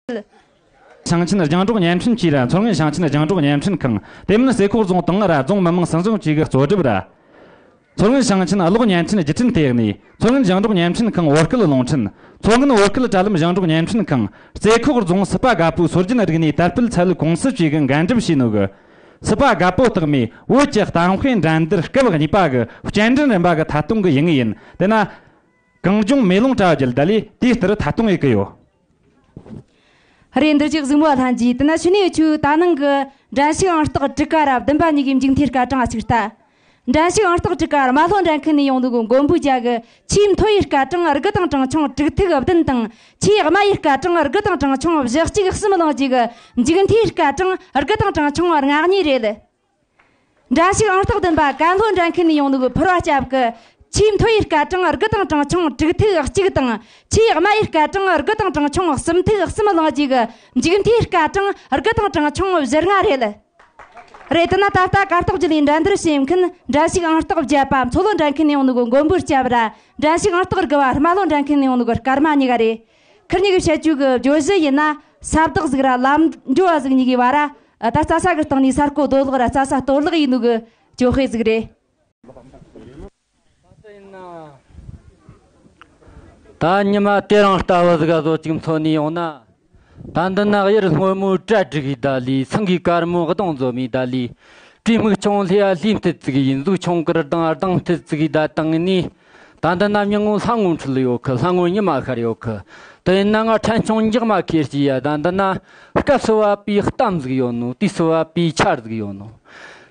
ཞིང་ཆེན་ཞིང་འབྲོག་བརྙན་འཕྲིན་ཅུས་ལ་མཚོ་སྔོན་ཞིང་ཆེན་ཞིང་འབྲོག་བརྙན་འཕྲིན་ཁང་དེ་མིན་ཟེ་ཁོག་རྫོང་དང་ར་རྫོང་མི་དམངས་སྲིད་གཞུང་ཅུས་ཀྱི་གཙོ་སྒྲུབ། མཚོ་སྔོན་ཞིང་ཆེན་གློག་བརྙན་འཕྲིན་རྒྱུ་འཕྲིན་ཐེག་ནུས་མཚོ་སྔོན་ཞིང་འབྲོག་བརྙན་འཕྲིན་ཁང་བོད་སྐད་རླུང་འཕྲིན་མཚོ་སྔོན་བོད་སྐད་དྲ་ལམ་ཞིང་འབྲོག་བརྙན་འཕྲིན་ཁང་རྩེ་ཁོག་རྫོང་སྲིད་པ་དགའ་པོའི་སྲོལ་རྒྱུན་རིག་གནས་དར་སྤེལ་ཚད་ལུས་ཀུང་སི་ཅུས་ཀྱི་འགན་སྒྲུབ་བྱེད་ནུས། སྲིད་པ་དགའ་པོ་རྟགས་མའི་བོད་ཀྱི་གཏམ་དཔེ་འགྲན་བསྡུར་སྐབས་གཉིས་པ་གི་སྐྱེལ་འདྲེན་རིམ་པ་གི་མཐའ་སྟོང་གི་ཡིག་ངོས་ཡིན་དེ་ན། གངས་ལྗོངས་མེ་ལོང་བཀྲ་རྒྱལ་ལྡི་ལིས་དུས་ལྟར་མཐའ་སྟོང་ཡི་གི་ཡོད། རེད་འདི་ཅི་གཟིགས་མོ་ལྷན་རྒྱས་དེ་ན་ཕྱི་ནས་ཆུ་ད་ནང་གི་འགྲན་ཞིག་ཨང་རྟགས་བྲི་ཀ་ར་བདུན་པ་གཉིས་ཀའི་མཇུག་མཐའི་སྐར་གྲངས་ཞིག་ལྟ། འགྲན་ཞིག་ཨང་རྟགས་བྲི་ཀ་ར་མ་ལྷོ་འགྲན་མཁན་ནས་ཡོང་འདུག་གི་མགོན་པོའི་རྒྱ་གི་ཆེས་མཐོ་ཡི་སྐར་གྲངས་རིགས་དང་གྲངས་ཆུང་དྲུག་ཐིག་བདུན་དང་ཆེས་དམའ་ཡི་སྐར་གྲངས་རིགས་དང་གྲངས་ཆུང་བཞི་གཅིག་གསུམ་བླངས་རྗེས་ཀྱི་མཇུག་མཐའི་སྐར་གྲངས་རིགས་དང་གྲངས་ཆུང་ལྔ་གཉིས་རེད། འདྲ་ཞིག་ཨང་རྟགས་བདུན་པ་ཀན་ལྷོ་འདྲ་མཁན་ནས་ཡོང་འདུག་ཕུར་བ་སྐྱབས་ཀྱི། ཆུའི་མཐོ་ཡི་སྐད་གྲངས་དགུ་དང་གྲངས་ཆུང་དྲུག་ཐིག་གཅིག་དང། ཆུའི་དམའ་ཡི་སྐད་གྲངས་དགུ་དང་གྲངས་ཆུང་གསུམ་ཐིག་གསུམ་གླིང་གཅིག་གི་མཇུག་མཐའི་སྐད་གྲངས་དགུ་དང་གྲངས་ཆུང་བཞི་ལྔ་རེད། རེད་དེ་ན་ད་ལྟ་གར་སྟོགས་རྒྱུད་ལས་འགྲན་བསྡུར་བྱེད་མཁན་འདྲ་ཞིག་ཨང་རྟགས་བརྒྱད་པ་མཚོ་ལྷོ་འདྲ་མཁན་ནས་ཡོང་འདུག་མགོན་པོ་སྐྱབས། འདྲ་ཞིག་ཨང་རྟགས་དགུ་བ་རྨ་ལྷོ་འདྲ་མཁན་ནས་ཡོང་འདུག་སྐར་མ་གཉིས་ཀ་རེད། ཁིར་ཉི་གི་བཤད་སྤྱོད་ཀྱི་བརྗོད་གཞི་ཡིན་ན་ས་བདག་གཟིགས་ར་ལམ་འགྲོ་བ་གཟིགས་ཉི་གི་བ་ར་ད་རྩྭ་ས་གི་སྟེང་ནས་ས་རྐོ་རྡོ་སློག་ར་རྩྭ་ས་གཏོར་བརླག་ཡིན་ནུ་གི་ཅོ་ཧེ་གཟིགས་རེད། ད་ཉི་མ་དེ་རང་ལྟ་བུ་གཟིགས་ར་བཟོ་ཅིག་འཚོ་ནས་ཡོང་ན། ད་འདི་ན་དབྱར་སྔོན་མོའི་གྲ་སྒྲིག་གི་ད་ལི་སེང་གིས་དཀར་མོའི་གདོང་བཟོ་མའི་ད་ལི། དྲི་སྨུག་ཆུང་ལྷས་ལྷས་མཐིལ་བརྩིགས་ཡིན་གཟུགས་ཆུང་གིར་ལྡང་ལྡང་མཐིལ་བརྩིགས་གི་ད་དེང་ནས་ད་ལྟ་ནམ་ཡང་སྔོན་ལྷ་ངོ་འཁྲུལ་ཡོད་གི་ལྷ་ངོ་ཉི་མ་ཤར་ཡོད་གི། དེ་ཡིན་ན་ང་ཕྲན་ཆུང་འཇག་མ་ཁེར་གྱི་ཡ་ད་འདི་ན། སྐབས་སུ་བབ་པའི་གཏམ་ཟིག་ཡོད་ནོ་དུས་སུ་བབ་པའི་ཆར་ཟིག་ཡོད་ནོ།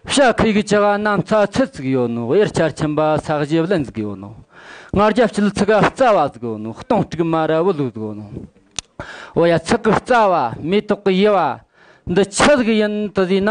ཤ་ཁུས་ཀྱི་ཅི་ག་གནམ་ས་ཚེར་ཟིག་ཡོད་ནོ་དབྱར་ཆར་ཁྱིམ་པ་ས་གཞི་བརླན་ཟིག་ཡོད་ནོ། སྔར་རྒྱབ་ཕྱི་ལ་ཚི་ག་རྩ་བ་ཟིག་ཡོད་ནོ་སྟོང་དཀྲུགས་མ་ར་བུ་ལུག་ཟིག་ཡོད་ནོ། འོ་ཡ་ཚི་གུ་རྩ་བ་མེ་ཏོག་གི་དབྱེ་བ། འདི་ཅི་ཟིག་ཡིན་དུ་བཟོས་ན།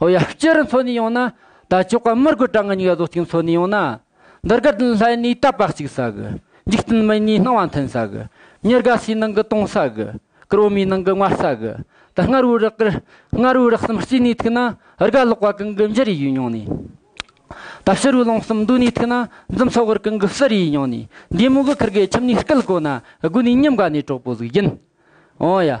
ཨོ་ཡ་སྤྱི་རུ་འཚོ་ནས་ཡོང་ན། ད་ཅོག་ག་མི་དགོས་གྲང་ངར་སྙིགས་བཟོ་གཅིག་འཚོ་ནས་ཡོང་ན། འདི་དགར་དུན་ལྷའི་ནུས་རྟ་ཕག་གཅིག་ཟ་གི། འཇིག་རྟེན་མི་གཉིས་སྣང་བ་མཐུན་ཟ་གི། མྱི་དགའ་སའི་ནང་གི་སྟོང་ཟ་གི། ཀར་བོ་མའི་ནང་གི་ངར་ཟ་གི། ད་སྔར་བོའི་རག་གི། སྔར་བོའི་རག་གསུམ་སྐྱེས་ནས་ཐུག་ན། ར་ག་ལོག་པ་གང་གི་འཇིར་ཡིས་མྱོང་ནས། ད་ཕྱི་རུའི་ལོང་གསུམ་འདུག་ནས་ཐུག་ན། འཛུམ་མཚོ་གར་གང་གི་གསེར་ཡིས་མྱོང་ནས། འདས་མོ་གི་ཁར་གའི་ཁྱིམ་ནས་སྐལ་བཀོད་ན། དགུན་ནས་ཉིན་འགའ་ནས་གྲོགས་པོ་གཟུགས་བརྒྱན། ཨོ་ཡ།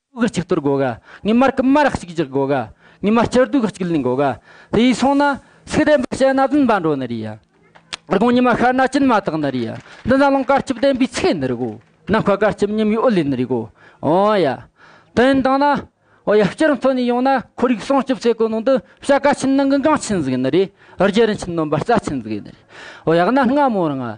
དབུགས་གཅིག་གཏོར་དགོས་ག་ངེས་མར་ཀུ་མཱ་ར་གཅིག་རྒྱག་དགོས་ག་ངེས་མ་སྤྱིར་སྡུག་གཅིག་ལེན་དགོས་ག་དེ་ཡིས་སོང་ན་སུག་ལྡན་པ་བྱེད་ན་བདུན་པ་འགྲོ་ནི་རེད་ཡ། དགུང་ཉི་མ་ཤར་ན་སྐྱིན་མ་དག་ནི་རེད་ཡ་འདི་ནི་རླངས་དཀར་སྐྱིབས་ལྡན་པའི་ཚེ་ནི་རེད་གོ་ནམ་མཁའ་དཀར་སྐྱིབས་ཉིན་མོའི་དབུ་ལེན་ནི་རེད་གོ་ཨོ་ཡ། དོན་དང་ན་འོ་ཡ་སྤྱིར་མཚོ་ནས་ཡོང་ན་ཁོར་ཡུག་སྲུང་སྐྱོབ་ཚད་གོ་ནོ་འདི་བྱ་ག་ཆིན་ནང་གི་འགངས་ཆིན་ཟིག་ནི་རེད་རྒྱལ་རིན་ཆིན་ནོམ་པ་རྩ་ཆིན་ཟིག་ནི་རེད་ཨོ་ཡ་གནའ་སྔ་མོར་ང་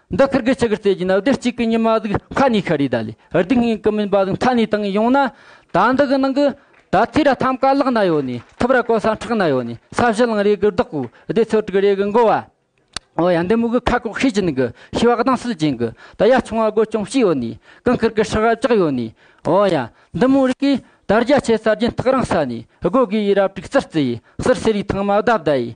འདི་ཕིར་གི་ཆི་གི་རྩེ་གྱི་ནི་རྡུལ་གཅིག་པའི་ཉི་མ་གཟུགས་མཁའ་ནི་ཤཱ་རི་དཱ་ལའི་རྡུལ་སྙིང་གི་མིན་པ་གཟུགས་མཐའ་ནི་དང་ཡོང་ན། ད་འདི་གི་ནང་གི། ད་ཐི་ར་ཐམ་ཀ་ལག་ན་ཡོ་ནི་ཐིབ་ར་ཀོ་ས་ཁྲག་ན་ཡོ་ནི་ས་བཞི་གླིང་རེ་གི་བདག་པོ་སྡེ་ཚོ་དྲུག་རེ་གི་འགོ་བ། འོ་ཡ་འདི་མུ་གི་ཁ་ཁོག་ཤེས་ཅན་གི་ཤི་བ་གདངས་སུ་བྱིན་གི་ད་ཡ་ཆུང་བ་སྒོ་ཅུང་ཞིག་ཡོ་ནི་ཀང་ཁིར་གི་ཤི་ཧ་བཅག་ཡོ་ནི། འོ་ཡ་འདི་མུ་རི་གི་ད་རྒྱ་ཆེ་ས་རྒྱན་ཐག་རང་ས་ནི་སྒོ་གི་ཡི་རབ་དྲུག་རྩིར་རྩི་ཡི་སིར་སེ་རི་ཐང་མ་བདའ་བདའ་ཡི་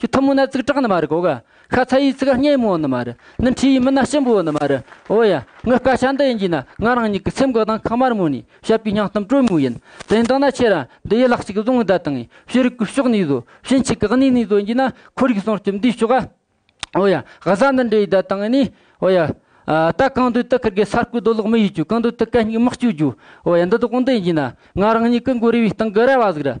ཁྱོད་ཐུ་མོ་ན་ཙིག་གྲགས་ནི་མ་རེད་གོ་ག་ཤ་ཚ་ཡིས་ཚིག་སྙན་མོ་ནི་མ་རེད་ནི་འཁྲིས་ཡིས་མི་སྣ་ཞིམ་པོ་ནི་མ་རེད་འོ་ཡ་ངའི་སྐད་ཆ་འདི་ཡིན་གྱིས་ན་ང་རང་ཉིད་ཀྱི་སེམས་གོ་དང་ཁ་དམར་མོ་ནས་བཤད་པའི་སྙིང་གཏམ་དྲོད་མོ་ཡིན་དེ་འདི་ན་ཁྱེད་རང་འདི་ཡི་ལག་ཅིག་བཟུང་བདག་དང་ཤེས་རིག་གི་ཕྱོགས་ནས་བཟོ་ཞེན་ཆེ་གེགས་ནུས་ནས་བཟོ་གྱིས་ན་ཁོར་ཡུག་སྲུང་སྐྱོབ་འདིའི་ཕྱོགས་ཨ་འོ་ཡ་ག་ས་འདི་འདྲའི་བདག་དང་ནི་འོ་ཡ་ད་གང་འདོད་དུ་ཁུར་དགོས་ས་རྐོས་རྡོ་སློག་མི་ཡོད་ཀྱོ་གང་འདོད་དུ་གད་སྙིགས་མི་སྐྱུག་རྒྱུ་འོ་ཡ་འདི་དག་འདི་ཡིན་གྱིས་ན་ང་རང་ཉིད་ཀྱི་མགོ་རིལ་བའི་སྟེང་གི་ར་བ་ཟིག་རེད་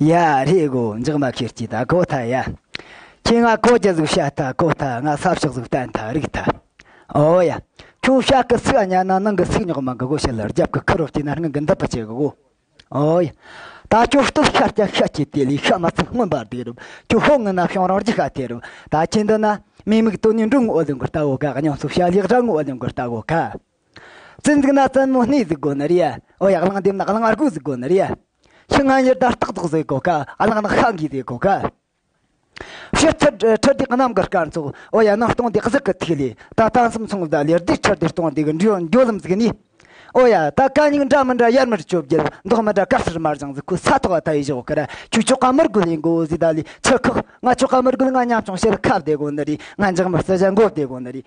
ཡ། ཧེ་གོ་འཇག་མ་ཁེར་སྐྱེས་ད་གོ་ཐ་ཡ། ཁྱེད་ང་ཁོ་ཅི་ཟིག་བཤད་ད་གོ་ཐ་ང་ས་ཕྱོགས་ཟིག་བསྟན་ད་རིག་ཐ། ཨོ་ཡ། ཁྱོད་བཤད་གི་ཚིག་གཉའ་ན་ནང་གི་ཚིག་ཉོག་མ་གི་གོ་བཤད་ལ་རྒྱབ་གི་ཁུ་རོ་སྐྱེས་ན་སྔུན་གི་འདི་པི་བྱེད་གི་གོ། ཨོ་ཡ། ད་ཁྱོད་སྟོབས་ཤར་ཀྱང་ཤ་ཁྱི་དེ་ལས་ཤ་མ་ཚིག་སྔོན་པར་འདུག་རུབ་ཁྱོད་ཧོ་ངུ་ན་ཤོང་རང་རྒྱུ་ཤ་དེ་རུབ་ད་ཁྱེད་འདི་ན། མི་མིག་དོ་ནི་འབྲུག་ངུ་ཨོ་ལི་མགུར་ལྟ་བུ་ག་གཉོམ་སོ་ཤ་ལེགས་སྒྲ་ངུ་ཨོ་ལི་མགུར་ལྟ་བུ་ག། བཙན་ཚིག་ན་བཙན་མོ་སྣའི་གཟུགས་སྒོ་ནི་རེ་ཨོ་ཡག་གླང་འདེབས་ན་གླང་དམར་པོའི་གཟུགས་སྒོ་ནི་རེ་ཕྱི་སྔ་ཉིར་དར་སྟག་ཚོགས་ཟེ་གོ་ཁ་ཨ་ལང་ནག་ཤ་འགའི་ཟེ་གོ་ཁ་ཕྱི་ཁྲི་ལྡེ་གནམ་གྱི་སྐར་ཚོགས་ཨོ་ཡ་སྣ་སྟོང་སྡེ་གཟུགས་ཀྱི་ཐིག་ལེ་ད་ལྟ་མཚམས་མཚུངས་ཟླ་ལེར་ལྡེ་ཁྲི་ལྡེ་སྟོང་སྡེ་གི་འགྲོ་ལམ་གཟིགས་ནས་ཨོ་ཡ་ད་ག་སྙིགས་འདྲ་མི་འདྲ་ཡར་མར་བཅོ་བརྒྱད་མདོག་མི་འདྲ་དཀར་སེར་དམར་ལྗང་གཟུགས་ཁུ་ས་ཐོག་ད་ཡི་གཞོག་གར་ཁྱུ་ཆོ་ག་མི་རྒོད་ལས་མགོ་བོ་ཟེ་ད་ལི་ཆུ་ཁག་ང་ཆོ་ག་མི་རྒོད་ང་ཉམ་ཆུང་ཤེལ་ཁ་སྡེ་གོ་ནི་རེ་ང་འཇག་མི་སྲི་ཞལ་མགོ་སྡེ་གོ་ནི་རེ།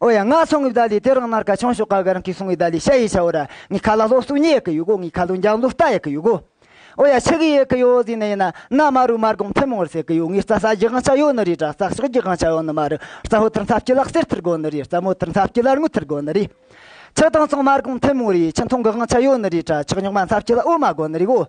ཨོ་ཡ་ངག་ཆུང་གི་བདག་ལས་དེ་རིང་ནར་ཁ་ཆུང་ཤོག་ཁ་གི་རང་གིས་གསུང་བའི་བདག་ལས་བཤད་ཡས་ཆ་བོ་ར་ངའི་ཁ་ལ་ལྷོག་གསུག་ཉེས་ཡས་ཀི་ཡོད་གོ་ངའི་ཁ་ལོ་འཇག་འཛུག་ལྟ་ཡས་ཀི་ཡོད་གོ། ཨོ་ཡ་ཆི་གི་ཡས་ཀི་ཡོད་ཟིག་ནི་ཡིན་ན་ན་མ་རུ་མར་གོང་ཐེ་མོང་རུ་ཟེར་གི་ཡོད་ངའི་རྩ་ས་རྒྱག་ང་ཆ་ཡོད་ནི་རེད་ར་རྩ་ཤོག་རྒྱག་ང་ཆ་ཡོད་ནི་མ་རུ་རྩ་ཧོ་ཐུར་འཚབ་སྐྱི་ལག་སེར་ཐུར་དགོ་ནི་རེད་རྩ་མོ་ཐུར་འཚབ་སྐྱི་ལར་ངུ་ཐུར་དགོ་ནི་རེད། ཆི་དང་ཆུང་མར་གོང་ཐེ་མོང་རེད་ཆི་མཐོང་གི་ང་ཆ་ཡོད་ནི་རེད་ར་ཆག་ཉོག་མ་འཚབ་སྐྱི་ལ་ཨོ་མ་དགོ་ནི་རེད་གོ།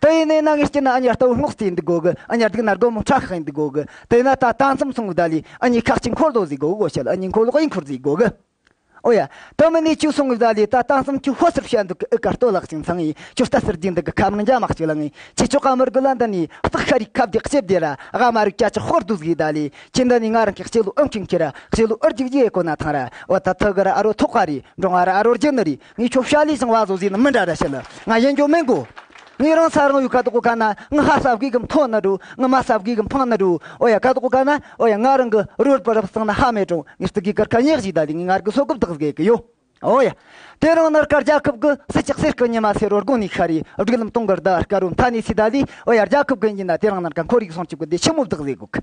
དེ་ཡིན་ནའི་ནང་ངས་བསྐྱུར་ན་ཨ་མྱེ་ལྟ་བུ་སྔོག་རྩིས་ཡིན་དུ་དགོས་གི་ཨ་མྱེ་སྡུག་ན་སྒོར་མོ་ཁྲག་ཁག་ཡིན་དུ་དགོས་གི་དེ་ན་ད་ལྟ་མཚམས་སྲུང་བརྡ་ལས་ཨ་མྱེ་ཁག་ཅིག་འཁོར་ལོ་བཟོས་དགོས་གི་གོ་བྱ་ལ་ཨ་མྱེ་འཁོར་ལོག་ཡིན་འཁོར་བཟོས་དགོས་གི་ཨོ་ཡ། དེ་མིན་ནས་ཁྱོད་སྲུང་བའི་བརྡ་ལས་ད་ལྟ་མཚམས་ཁྱོད་ཧོར་སེར་བྱས་འདུག་གི་ཨི་ག་ལྟོ་ལག་ཅིག་འཚང་ཡིན་ཁྱོད་ལྟ་ཟེར་རྒྱུ་འདི་གི་ཁ་མང་འཇའ་མ་ཁྱོད་ལ་ངས་ཁྱེད་ཆོ་ག་མི་དགོས་ལ་འདི་ནས་བརྩེགས་ཤ་རིག་ཁབ་རྒྱག་སྐྱེ་བདེ་ར་ཝ་མ་རིག་ཀྱ་ཀྱི་ཧོར་བདུད་བཟོའི་བརྡ་ལས་ཁྱེད་འདི་ནས་ང་རང་གི་སྐྱེ་ལོ་ཨུ་འཁྱིང་ཁྱི་ར་སྐྱེ་ལོ་ཨུར་རྒྱུག་རྒྱུ་ཡས་གོ་ན་ཐང་ར་ཝ་ད་ཐུག་གི་ར་ཨ་རོ་ཐོག་ཁ་རེ་འབྲོང་བ་ར་ཨ་རོ་རྒྱུ་ནི་རེ་ངའི་ཁྱོ་ཤ་ལིས་ཟིང་བ་ཟོ་ཟིས་ནི་མི་འདྲ་འདྲ་ཤི་ལ་ང་གཞན་ཅོ་མེན་གོ། ངའི་རང་ས་རང་ཡུལ་ཁ་དོག་གོ་ཁ་ན་ང་ཧ་ས་བྷི་གི་མཐོ་ན་དྲུ་ང་མ་ས་བྷི་གི་འཕང་ན་དྲུ་ཨོ་ཡ་ཁ་དོག་གོ་ཁ་ན་ཨོ་ཡ་ང་རང་གི་རུལ་པར་རབ་སང་ན་ཧ་མེ་ཀྲོང་ངས་སྟི་གི་གར་ཁ་ཉག་ཞིག་ད་ལི་ངའི་ངར་གི་སོ་ཀུབ་དག་ཟེ་གི་ཡོ་ཨོ་ཡ། དེ་རང་ནར་ཀར་རྒྱ་ཁབ་གི་སི་ཅག་སེར་ཀི་ཉི་མ་སེར་རོ་རྒོང་ནི་ཤ་རི་སྒྲིག་ལམ་སྟོང་གི་རྡ་ཀར་རུ་མཐའ་ནི་སི་ད་ལི་ཨོ་ཡ་རྒྱ་ཁབ་གི་ཉི་ན་དེ་རང་ནར་ཀ་འཁོར་ཡུག་སང་ཆུ་གི་སྡེ་ཆེན་མོ་བདག་ཟེ་གུ་གི།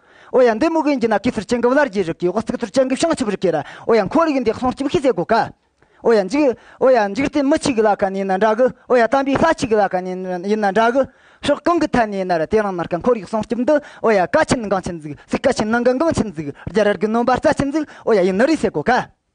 ཨོ་ཡ་འདི་མུ་གེ་འགྱི་ན་གི་ཚུར་ཅན་གིབ་ལར་གྱི་རིགས་ཀྱི་ཨོ་རྩིག་ཚུར་ཅན་གིབ་བྱང་ཆུབ་རིགས་ཀྱི་ར་ཨོ་ཡ་འཁོར་ཡུག་འདི་ཁསོང་སྐྱིབ་ཤི་ཟེ་གོ་ཀ། ཨོ་ཡ་འཇིག། ཨོ་ཡ་འཇིག་རྟེན་མི་ཆིག་ལ་ཀ་ནི་ན་འདྲ་གི་ཨོ་ཡ་དམ་པའི་ས་ཆིག་ལ་ཀ་ནི་ཡིན་ན་འདྲ་གི། ཕྱོགས་གང་གི་ཐད་ནས་ན་ར་དེ་རང་ན་ར་ཀ་འཁོར་ཡུག་ཁསོང་སྐྱིབ་འདི་ཨོ་ཡ་ཀ་ཆིན་འགང་ཆིན་འཛིག་སིག་ཀ་ཆིན་ནང་གི་འགང་ཆིན་འཛིག་རྒྱ་རལ་གི་ནོན་པ་རྩ་ཆིན་འཛིག་ཨོ་ཡ་ཡིན་ནི་རི་ཟེ་གོ་ཀ།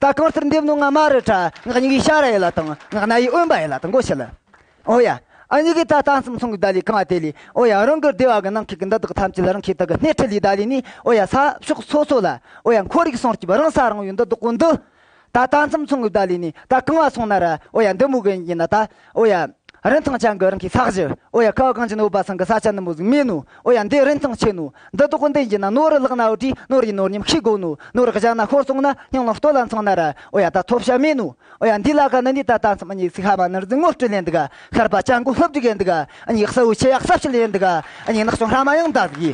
ད་གང་སར་འདེབས་ནོ་ང་མ་རེད་ཁྲ་ངག་གཉིས་ཀའི་ཤ་ར་ཡེ་ལ་དང་ངག་སྣ་ཡི་དབེན་པ་ཡེ་ལ་དང་གོ་ཤེས་ལ། ཨོ་ཡ། ཨ་གཉིས་ཀའི་ད་ལྟ་གསུམ་ཚང་གི་ད་ལི་གང་བ་དེ་ལི་ཨོ་ཡ་རང་གི་སྡེ་བ་གི་ནང་ཁེག་གི་འདི་དག་ཐམས་ཅད་ལ་རང་ཁེག་དག་གི་སྣེ་ཁྲིད་ལི་ད་ལི་ནི་ཨོ་ཡ་ས་ཕྱོགས་སོ་སོ་ལ་ཨོ་ཡ་འཁོར་རིགས་སྲང་སྐྱིབས་རང་ས་རང་ཡོད་འདི་དག་གོ་འདི། ད་ད་གསུམ་ཚང་གི་ད་ལི་ནི་ད་གང་བ་སོང་ན་ར་ཨོ་ཡ་འདི་མུག་གི་ཡིན་ན་ད། ཨོ་ཡ། རིན་ཐང་ཅན་གྱི་རིན་གྱི་ས་གཞི། ཨོ་ཡ། ཁའོ་གངས་ཅན་འོད་འབར་ཚང་གི་ས་ཆ་ནུབ་མོ་གཟིགས་མེད་ནོ། ཨོ་ཡ། འདི་རིན་ཐང་ཆེ་ནོ། འདི་དོག་འདི་འགྱིས་ན་ནོར་རི་བརླག་ན་འོ་དྲིས་ནོར་ཡིན་ནོར་ཉམས་ཤིག་དགོས་ནོ། ནོར་བཞག་ན་ཤོར་སོང་ན་སྙིང་ལ་ལྟོ་ལ་འཚང་ན་ར། ཨོ་ཡ། ད་ཐོབ་བྱ་མེད་ནོ། ཨོ་ཡ། འདི་ལ་ག་ནི་ནི་ད་ལྟ་མཚམས་སྙིགས་སི་ཤ་བ་ནི་རི་རྫིང་ངོ་སྤྲོད་ལེན་འདུག་ཤར་པ་ལྕགས་མགོ་ལྷུབ་འདུག་ཡིན་འདུག་སྙིགས་སི་བོའི་ཆེ་ཡག་ཟབ་ཞིག་ཡིན་འདུག་སྙིགས་ནག་ཅུང་ཧྲ་མ་ཡང་འདའ་གི།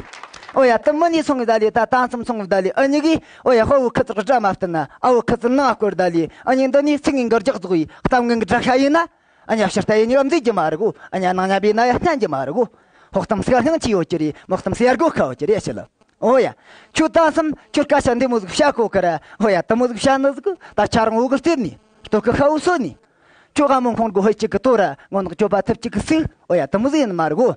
ཨོ་ཡ། དུམ་མི་ནི་ཚང་བའི་བརྡ་ལས་ད་ད་མཚམས་ཚང་བའི་བརྡ་ལས་ཨ་ཉི་གིས་ཨོ་ཡ་དཔའ་བོའི་ཁུ་ཚུར་སྒྲ་མ་བསྟན་ན་ཨ་བོའི་ཁུ་ཚུར་སྣང་བ་སྐོར་བརྡ་ལས་ཨ་མྱེས་འདི་ནས་ཚིག་ངན་འགར་རྒྱག་རྫོགས་ཡིན་གཏམ་ངན་གྱི་སྒྲ་ཤ་ཡིན་ན་ཨ་མྱེས་ཕྱིར་ལྟ་ཡས་མྱུག་མཛེས་ཀྱི་མ་རེད་གོ་ཨ་མྱེས་ནང་མཉམ་པའི་ན་ཡ་བསྙན་གྱི་མ་རེད་གོ་ཧོག་གཏམ་སེར་སྣང་ཅི་ཡོད་ཀྱི་རེད་མོག་གཏམ་སེར་སྒོ་ཁའོ་ཀྱི་རེད་ཤི་ལ་ཨོ་ཡ་ཁྱོད་ལྟ་སམ་ཁྱོད་སྐད་ཆ་འདི་མོ་གཟུགས་བྱ་གོ་གི་ར་ཨོ་ཡ་དེ་མོ་གཟུགས་བྱ་ནི་གཟུགས་ད་ཆ་རང་འོག་གི་སྟེར་ནས་སྟོད་གི་ཤ་བོ་སོད་ནས་ཁྱོད་ཨ་མོ་མཁོང་དགོ་ཧོད་ཅིག་གི་ལྟོ་ར་སྔོ་ནག་གྱོད་པ་ཐུབ་ཅིག་གི་སུག་ཨོ་ཡ་དེ་མོ་གཟུགས་ཡིན་མ་རེད་གོ།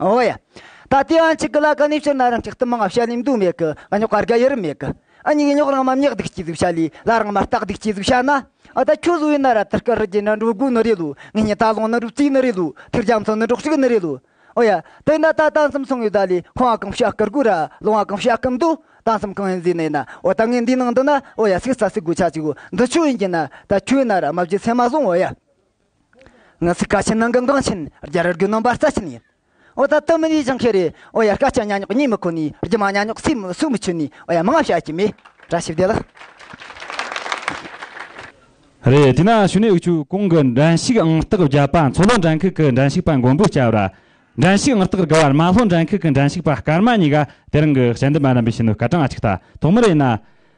ཨོ་ཡ། ད་ལྟའི་ཨང་ཅིག་གི་ལ་ག་ནས་ཕྱིར་ན་རང་ཅག་ཏུ་མི་མངའ་བྱ་ལས་མདོ་མེད་གི་ཨ་ཉོག་ག་རྒ་ཡི་རུ་མེད་གི་ཨ་ཉིག་ཉོག་རང་མ་མཉེག་སྡིག་སྐྱིད་ཟིག་བྱ་ལས་ལ་རང་མ་སྟག་སྡིག་སྐྱིད་ཟིག་བྱ་ན་ཨ་ད་ཁྱོད་བཟོ་བའི་ན་ར་དར་དཀར་རི་རྒྱལ་ན་འགྲོ་དགོས་ནི་རེད་ལོ་ངེད་གཉིས་ད་ལོངས་ན་འགྲོ་རྩིས་ནི་རེད་ལོ་ཐུར་རྒྱམ་ཚང་ནི་འགྲོགས་ཤིག་ནི་རེད་ལོ་ཨོ་ཡ། དེ་ན་ད་ད་འཚམས་སོང་ཡོད་ད་ལས་ཁང་བ་གང་བྱ་དཀར་དགོས་ར་ལོང་བ་གང་བྱ་སྐམ་མདོ་ད་འཚམས་གང་ཡིན་བཟོས་ནས་ན་ཨོ་ད་ངས་འདིའི་ནང་འདི་ན་ཨོ་ཡ་སིག་རྩ་སིག་དགོས་ཆ་ཅིག་འོ་འདི་ཆོས་ཡིན་གྱི་ན་ད་ཁྱོད་ན་ར་མ་བརྗེད་ཚད་མ་བཟུང་ཨོ་ཡ། ང་ཚོས་བཀའ་ཆེན་ནང་གི་འགངས་ཆེན་བརྒྱ་རུ་བརྒྱུད་གནང་པ་རྩ་ཆེན་ཡིན། འོ་ད་དུ་མི་ནས་སྦྱང་མཁན་རེ་འོ་ཡ་བཀའ་ཆེན་གཉའ་གཉོག་གཉིད་མི་ཁུག་ནས་རྒྱུ་མ་གཉའ་གཉོག་སུས་མི་སུས་མི་ཆུད་ནས་འོ་ཡ་མི་ང་བྱ་གྱི་མེད་གྲ་ཞིབ་བདེ་ལགས། རེད་དེས་ན་ཞུ་ནས་དབུས་ཆོས་གོང་གི་འགྲན་ཞུགས་ཨང་རྟགས་བརྒྱ་པ་མཚོ་ལྷོ་འགྲན་ཁུག་གི་འགྲན་ཞུགས་པ་མགོན་པོ་སྐྱབས་ར། འགྲན་ཞུགས་ཨང་རྟགས་དགུ་བར་མ་ལྷོ་འགྲན་ཁུག་གི་འགྲན་ཞུགས་པ་སྐར་མ་གཉིས་ཀ་དེ་རིང་གི་དཔྱད་འདེམས་པ་རྣམ་པས་ཞུ་ནུས་སྐད་གྲངས་གཅིག་ལྟ་དོགས་མི་རེད་ན།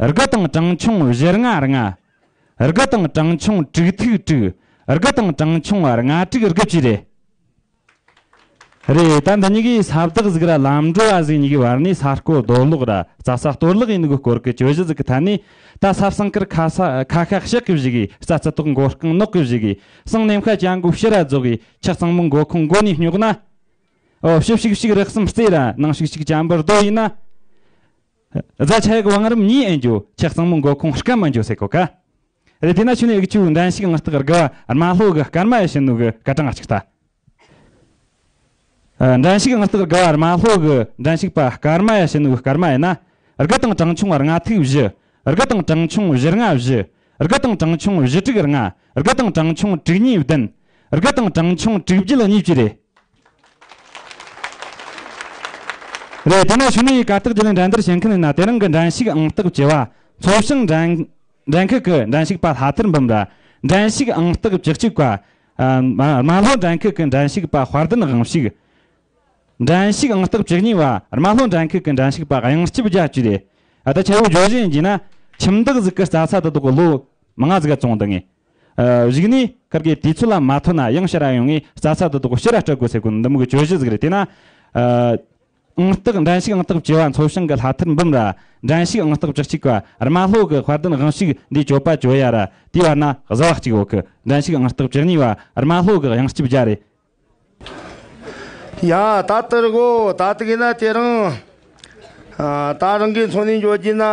རྒི་དང་གྲངས་ཆུང་བཞི་ལྔ་ལྔ། རྒི་དང་གྲངས་ཆུང་དྲུག་ཐིག་དྲུག། རྒི་དང་གྲངས་ཆུང་ལྔ་དྲུག་རྒི་བཅུ་རེད། རེད་ད་འདི་གཉིས་ཀའི་ས་བདག་གཟིགས་ར་ལམ་འགྲོ་བ་གཟིགས་གཉིས་ཀའི་བར་ནས་ས་བརྐོ་རྡོ་སློག་ར་རྩ་ས་གཏོར་བརླག་ཡིན་དགོས་སྐོར་གི་གྱོད་གཞི་གཟིགས་ཀི་ཐ་ནས་ད་ས་བསང་ཀིར་ཁ་ས་ཁ་ཤག་བཤིག་གི་བཞི་གིས་ས་རྩི་ཏོག་མགོ་རྐང་ནོག་གི་བཞི་གིས་བསང་གནམ་ཤ་བྱ་མགོ་བཤི་ར་རྫོགས་གིས་ཆག་གཙང་མོ་མགོ་ཁུང་མགོ་ནས་སྙོག་ན། ཨོ་བཤི་བཤིག་བཤིག་རགས་གསུམ་རྩེ་ར་ནང་བཤིག་བཤིག་བྱ་འབུར་རྡོ་ཡིན་ན། རྫ་ཆ་ཡག་བང་རིམ་གཉིས་ཨེ་འགྱོ་ཁྱི་གཙང་མོ་མགོ་ཁུང་སྐམ་མ་འགྱོ་སེ་གོ་ཀ་རེ་དེ་ན་ཆུ་ནས་ཨིག་ཆུ་འདྲན་ཤིག་ནག་སྟག་རྒ་བ་རྨ་ལྷོ་གི་སྐར་མ་ཡི་ཤི་ནུ་གི་སྐར་གྲངས་གཅིག་ལྟ་འདྲན་ཤིག་ནག་སྟག་རྒ་བ་རྨ་ལྷོ་གི་འདྲན་ཤིག་པ་སྐར་མ་ཡི་ཤི་ནུ་གི་སྐར་མ་ཡི་ན་རྒ་དང་གྲངས་ཆུང་རྔ་ཐིག་བཞི་རྒ་དང་གྲངས་ཆུང་བཞི་རྔ་བཞི་དགུ་དང་གྲངས་ཆུང་བཞི་དྲུག་ལྔ། དགུ་དང་གྲངས་ཆུང་དྲུག་གཉིས་བདུན། དགུ་དང་གྲངས་ཆུང་དྲུག་བརྒྱད་གཉིས་བཅུ་རེད། རེད་དེ་ནས་བྱུང་ནས་ཡི་ག་རྟགས་རྒྱུ་ལས་འགྲན་བསྡུར་བྱེད་མཁན་ཡིན་ན་དེ་རང་གི་འགྲན་ཞུགས་ཨང་རྟགས་བཅོལ་བ། ཚོགས་ཞིང་འགྲན་འགྲན་ཁུལ་གྱི་འགྲན་ཞུགས་པ་ལྷ་དར་འབུམ་ར། འགྲན་ཞུགས་ཨང་རྟགས་བཅུ་གཅིག་པ། རྨ་ལྷོ་འགྲན་ཁུལ་གྱི་འགྲན་ཞུགས་པ་དཔར་ལྡན་དབང་ཕྱུག། འགྲན་ཞུགས་ཨང་སྟོབས་བཅུ་གཉིས་པ་རྨ་ལྷོ་འགྲན་ཁུལ་གྱི་འགྲན་ཞུགས་པ་དབྱངས་སྐྱིད་རྒྱལ་སྤྱི་ལས་ད་ཆ་བོད་ལྗོངས་གཞན་གྱི་ན་ཁྱིམ་སྟག་གཟིག་གི་རྩྭ་ས་དེ་དག་གི་ལོ་མང་གཟིག་ག་ཙོང་དུ་ངེས། གཞིགས་ནས་གར་གའི་དུས་ཚོད་ལ་མ་ཐོན་ན་དབྱངས་ཞི་ར་ཡོང་ངས་རྩྭ་ས་དེ་དག་གི་ཕྱི་ར་སྤྲད་དགོས་ཟེར་གོ་འདི་མི་གི་གྱོད་གཞི་ཟིག་རེད་དེས་ན། ཨང་སྟག་འགྲན་ཞུགས་ཨང་སྟོབས་བཅུ་བ་མཚོ་ཞིང་གི་ལྷ་ཐར་འབུམ་ར་འགྲན་ཞུགས་ཨང་སྟོབས་བཅུ་གཅིག་པ་རྨ་ལྷོ་གི་དཔལ་ལྡན་དབྱངས་ཞུགས་འདིའི་གྱོད་པ་གྱོད་ཡ་ར་དེའི་བར་ན་གཟི་བ་གཅིག་འོག་གི་འགྲན་ཞུགས་ཨང་སྟོབས་བཅུ་གཉིས་པ་རྨ་ལྷོ་གི་དབྱངས་སྐྱིད་རྒྱལ་རེད། ཡང་ད་ལྟར་སྒོ་ད་ལྟ་གིས་ན་དེ་རིང། ད་རང་གིས་འཚོ་གནས་འཇོག་རྒྱུ་ན།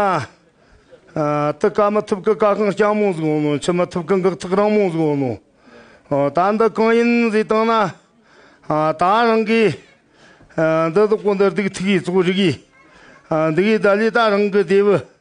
དུ་བཀག་མི་ཐུབ་ཀི་བཀག་ཁང་རྐྱང་མོ་ཟིག་ཡོང་ནོ་འཆི་མི་ཐུབ་ཀི་འགག་ཐག་རང་མོ་ཟིག་ཡོང་ནོ། ད་འདི་གང་ཡིན་ཟེར་སྟངས་ན། ད་རང་གིས། འདི་གཟུགས་པོ་འདི་སྡིག་ཐིག་གིས་གཙོ་རིག་གིས། འདི་གིས་ད་ལོའི་ད་རང་གི་སྡེ་བུ།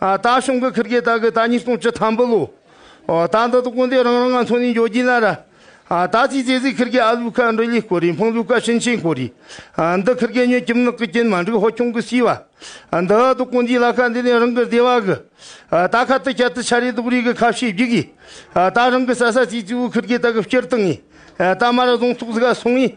ད་ཤོང་གི་ཁིར་གེ་ད་གི་ད་ཉིས་སྟོང་བཅུ་ཐམ་པུ་ལོ། ད་འདི་དུ་ཀུན་དེ་རང་རང་ང་ཚོ་ནས་འཇོ་རྒྱུ་ན་ར། ད་ཚིག་ཚེ་ཚིག་ཁིར་གེ་ཨ་ལུ་ཀ་འབྲི་ལི་ཀོ་རི་འཕང་ལུ་ཀ་ཤིན་ཤིན་ཀོ་རི། འདི་ཁིར་གེ་ཉོས་ཀྱིམ་ནག་གི་ཀྱིན་མ་འགྲིག་ཧོ་ཁྱུང་གི་སི་བ། འདི་ཨ་དུ་ཀུན་དེའི་ལ་ཁ་འདི་ནས་རང་གི་སྡེ་བ་གི། ད་ཁ་ཏུ་ཁྱད་དུ་ཆ་རེ་དུག་རེ་གི་ཁ་ཕྱེ་བརྒྱུག་གི། ད་རང་གི་ས་ས་ཚིག་ཚིག་བུ་ཁིར་གེ་ད་གི་བསྐྱུར་དང་ངེས། ད་མ་ར་རྫོང་ཐུག་ཟི་ག་སོང་ངེས།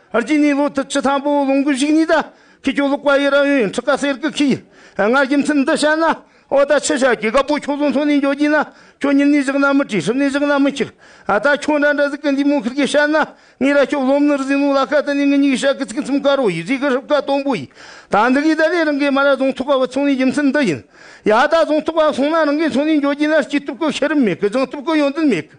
ཨར་ཅི་ནི་ལོ་དུ་ཆུ་དང་པོ་ལུང་གི་བཞུགས་གཉིས་དང་ཁི་ཁྱོ་ལུག་པ་ཡི་ར་ཡོན་ཁྲི་ཀ་སེར་ཀི་ཁི་ཡི་སྔར་གྱི་མཚན་འདི་བཤད་ན་ཨོ་ད་ཆི་ཤ་ཀྱི་ག་པོ་ཁྱོ་ལུང་ཐོ་ནི་འཇོ་གྱིས་ན་ཁྱོ་ཉིན་ནི་བཞག་ན་མི་བྲི་ཧྲིབ་ནི་བཞག་ན་མི་འཁྱིར་ཨ་ད་ཁྱོ་འདྲ་འདྲ་ཟི་ཀི་འདི་མོ་ཁིར་གྱི་བཤད་ན་ངི་ར་ཁྱོ་ལོམ་ནིར་ཟིན་ལུག་ལ་ཁ་ད་ནི་ངི་ཉི་གི་ཤ་ཀི་ཚིག་གི་ཚིམ་ཀ་རོ་ཡི་རི་ཀི་ཧྲིབ་ཀ་དོམ་པོ་ཡི་ད་འདི་གི་ད་ལི་རང་གི་མ་ར་རྫོང་ཐུག་པ་བུ་ཚོང་ནི་གྱི་མཚན་འདི་ཡིན་ཡ་ད་རྫོང་ཐུག་པ་སོང་ན་རང་གི་ཚོང་ནི་འཇོ་གྱིས་ན་སྐྱིད་སྟུབ་ཀི་ཤི་རིམ་མེད་ཀི་བྱང་སྟུབ་ཀི་ཡོན་ཏན་མེད་ཀི།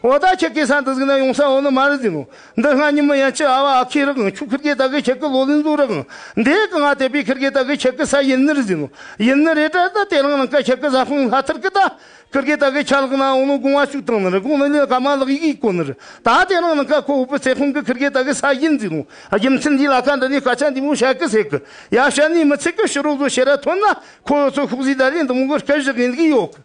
བ་ད་ཁྱེད་ཀྱི་ས་འདི་ཟིག་ན་ཡོང་ས་འོ་ན་མ་རེད་ཟིག་ནོ། འདི་སྔ་ཉི་མ་ཡན་ཆད་ཨ་བ་ཨ་ཁི་རག་གི་ཆུ་ཁིར་གྱི་ད་གི་ཁྱེད་ཀྱི་ལོ་ལིན་ཟུག་རག་གི་འདི་གི་ང་དེ་པི་ཁིར་གྱི་ད་གི་ཁྱེད་ཀྱི་ས་ཡིན་ནི་རེད་ཟིག་ནོ། ཡིན་ནི་རེད་དྲ་ད་དེ་རང་ནང་ཀ་ཁྱེད་ཀྱི་ས་ཧྥུང་ལྷ་ཐིར་གི་ད་ཁིར་གྱི་ད་གི་ཁྱ་ལག་ན་འོ་ནོ་གུང་བ་ཞུགས་ཏང་ནི་རེད་གུང་ནི་ལིན་ཀ་མ་ལག་ཡིག་ཡིག་གོ་ནི་རེད་ད་དེ་རང་ནང་ཀ་ཁོ་བོ་པི་ཚེ་ཧྥུང་གི་ཁིར་གྱི་ད་གི་ས་ཡིན་ཟིག་ནོ། རྒྱུ་མཚན་འདི་ལ་ཀ་འདི་ནས་སྐད་ཆ་འདི་མོ་བཤད་གི་ཟེར་གི་ཡ་བཤད་ནི་མི་ཚེ་གི་ཕྱི་རོལ་བཟོ་བྱེད་ར་ཐོན་ན་ཁོ་བོ་ཚོ་ཤུགས་ཟིག་ད་ལས་འདི་མོ་གི་སྐད་བཞག་གི་འདུག་གི་ཡོད་གི།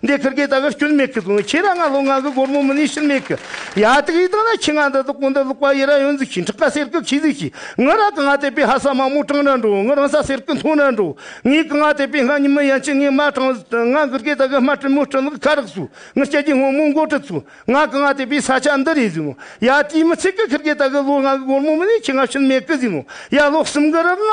འདི་ཁུར་གི་དག་སྐྱོན་མེད་གི་བཟུང་ཁྱེད་ར་ང་ལོ་ང་གི་སྒོར་མོ་མི་ནུས་ཕྱིར་མེད་གི་ཡ་ཏིག་ཡིག་ཏག་ན་ཁྱི་ང་འདི་དག་གོ་འདི་ལུག་པ་ཡི་ར་ཡོན་འཛུགས་ཤིང་ཁྲག་ཁ་སེར་གི་ཁྱི་གཟིགས་ཤིག་ངི་ར་གི་ང་དེད་པའི་ཧ་ས་མ་མོ་གྲང་ར་འགྲོ་ངི་རང་ས་སེར་གི་མཐོང་ར་འགྲོ་ངི་གི་ང་དེད་པའི་ང་ཉི་མི་ཡན་ཆད་ངི་མ་གྲང་ཟིག་ང་གུར་གི་དག་དམར་དྲི་མོ་དྲི་ལག་ཁ་རག་སུ་ངི་སྐྱ་ཀྱི་སྔོན་མོ་མགོ་དྲི་ཚུ་ང་གི་ང་དེད་པའི་ས་ཆ་འདི་རེད་ཟིན་ནོ་ཡ་དེའི་མི་ཚེ་གི་ཁུར་གི་དག་ལོ་ང་གི་སྒོར་མོ་མི་ནུས་ཁྱི་ང་ཕྱིར་མེད་གི་ཟིན་ནོ་ཡ་ལོ་གསུམ་གི་རག་ང།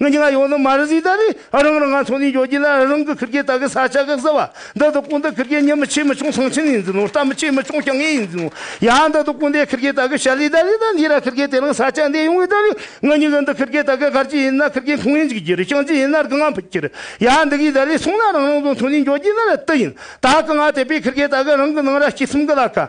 ངས་ཀྱང་ཡོང་ནི་མ་རེད་ཟིག་ད་རེས་རང་རང་ང་ཚོ་ནས་འགྱོ་རྒྱུ་ལ་རང་གི་ཁུར་ཁྱེད་ད་གི་ས་ཆ་ག་ཟེར་བ་འདི་དུ་ཀུན་ད་ཁུར་ཁྱེད་ཉི་མི་ཆེ་མི་ཆུང་ཚང་ཆེན་ཡིན་ཟིན་ནོ་རྟ་མི་ཆེ་མི་ཆུང་སྐྱ་ངེ་ཡིན་ཟིན་ནོ་ཡ་འདི་དུ་ཀུན་ད་ཁུར་ཁྱེད་ད་གི་ཞལ་ལས་ད་རེས་ད་འདི་ར་ཁུར་ཁྱེད་དེ་རང་ས་ཆ་འདི་ཡོང་གི་ད་རེས་ང་གཉིས་ཀྱི་འདི་ཁུར་ཁྱེད་ད་གི་སྒར་གྱི་ཡིན་ན་ཁུར་ཁྱེད་ཁུང་ཡིན་གྱི་གྱི་རེ་ཤང་གྱི་ཡིན་ན་རྐུ་ང་ཕུད་གྱི་རེ་ཡ་འདི་གི་ད་རེས་སོང་ན་རང་རང་ཚོ་ཚོ་ནས་འགྱོ་རྒྱུ་ན་ར་ཏི་ཡིན་ད་ཀི་ང་དེ་པའི་ཁུར་ཁྱེད་ད་གི་རང་གི་ནང་ར་སྐྱི་སུམ་གི་ལ་ཀ།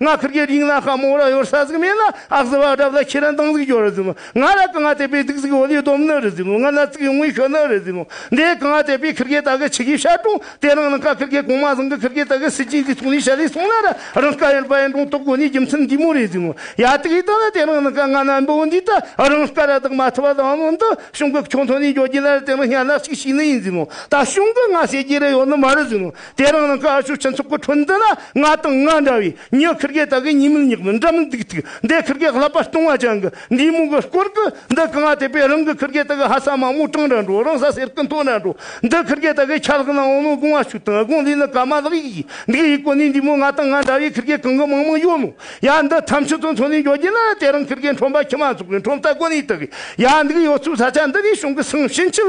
ང་ཁིར་གྱི་རིང་ལ་ཁ་མོ་ར་ཡོར་ས་ཟིག་མེད་ལ་ཨག་ཟི་བ་སྒྲབ་ལ་ཁྱེད་རང་དང་ཟིག་ཇོ་རི་ཟིག་མོ་ང་ལ་གང་ང་དད་པའི་སྡིག་ཟིག་བོ་ལི་སྡོམ་ནི་རི་ཟིག་མོ་ང་ན་ཚིག་གི་ངོས་ཤོ་ནི་རི་ཟིག་མོ་འདྲེ་གང་ང་དད་པའི་ཁིར་གྱི་ད་གི་ཆི་གི་ཤ་ཀྲུང་དེ་རང་ནི་ཁ་ཁིར་གྱི་གོང་མ་ཟིང་གི་ཁིར་གྱི་ད་གི་སི་ཅིང་གི་ཚུང་ལི་ཤ་ལི་སུང་ལ་ར་རང་ཀ་ཡན་པ་ཡན་ཀྲུང་ཏོག་གོ་ནི་རྒྱུ་མཚན་འདི་མོ་རི་ཟིག་མོ་ཡ་ཏི་གི་ད་ལ་དེ་རང་ནི་ཀ་ང་ན་འབུ་བོ་འདི་ད་རང་ཀ་ར་དག་མ་ཐུ་བ་ལ་ང་འདི་ཤུང་གི་ཁྱོང་ཐོ་ནི་འཇོ་རྒྱི་ལ་ར་དེ་རང་ཤ་ལ་ཤིག་ཤིག་ནི་ཡིན་ཟིག་མོ་ད་ཤུང་གི་ང་ཤེ་གྱི་ར་ཡོ་ནི་མ་རི་ཟིག་མོ། དེ་རིང་ནི་ཀ་ཤུལ་སྤྱི་ཚོགས་ཀྱི་ཁྲོད་འདི་ན་ང་དང་ང་འདྲ་བའི་མྱི་ཁིར་གེ་དག་གི་གཉིས་མིག་གཉིས་པོ་འདྲ་མི་འདུག་ཐིག་འདི་ཁིར་གེ་ལྷག་པར་སྟོང་བ་ཅན་གྱི་འདུས་མོ་གི་སྐོར་གྱི་འདི་གང་བ་དེ་པས་རང་གི་ཁིར་གེ་དག་གི་ཧ་ས་མ་མོ་གྲང་འདྲ་འགྲོ་རང་ས་སེར་གི་མཐོ་འདྲ་འགྲོ་འདི་ཁིར་གེ་དག་གི་ཆ་ལག་ནའང་ནོ་དགོང་བ་ཤུག་དང་དགོང་ལས་ནི་ཀ་མ་ལག་ཡིག་ཡིག་འདི་ཡི་སྐོར་ནས་འདུས་མོ་ང་དང་ང་འདྲ་བའི་ཁིར་གེ་གང་གི་མང་མང་ཡོད་མོད་ཡ་འདི་ཐམས་ཅད་དུ་འཚོ་ནས་འགྱོ་རྒྱུ་ན་དེ་རིང་ཁིར་གེ་འཁྲོམ་པ་ཁྱི་མ་ཚོགས་པའི་འཁྲོམ་ལྟ་གོ་ནས་དག་གི་ཡ་འདུག་ཡོད་ཚོད་ས་ཆ་འདི་གའི་གཞུང་གི་སང་ཕྱིན་ཆད་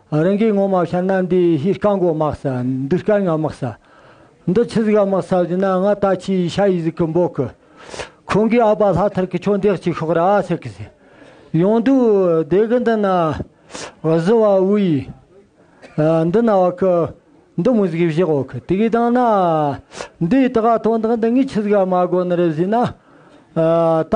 རང་གིས་ངོ་མ་ཤར་ན་འདི་ཧི་སྐར་མགོ་དམག་ས་འདི་སྐར་ངར་དམག་ས། འདི་ཆུ་ཟིག་དམག་ས་བཞིན་ན་ང་ད་ཁྱི་ཡི་ཤ་ཡི་ཟིག་གི་འབོག་གི། ཁོང་གིས་ཨ་པ་ལྷ་ཐར་གི་ཁྱོ་འདེགས་ཅིག་ཤོག་ར་ཨ་ཚེ་གི་ཟེར། ཡོང་དུས་སྡེ་གི་འདི་ན། བཟི་བ་དབུ་ཡི། འདི་ན་བ་ཁི། འདི་མུ་ཟིག་བཞི་འོག་གི་དེ་གིས་བཏང་ན། འདིས་དགའ་དོན་དག་འདི་ངས་ཆུ་ཟིག་ཨ་མ་དགོ་ནི་རེད་བཞིན་ན། ད།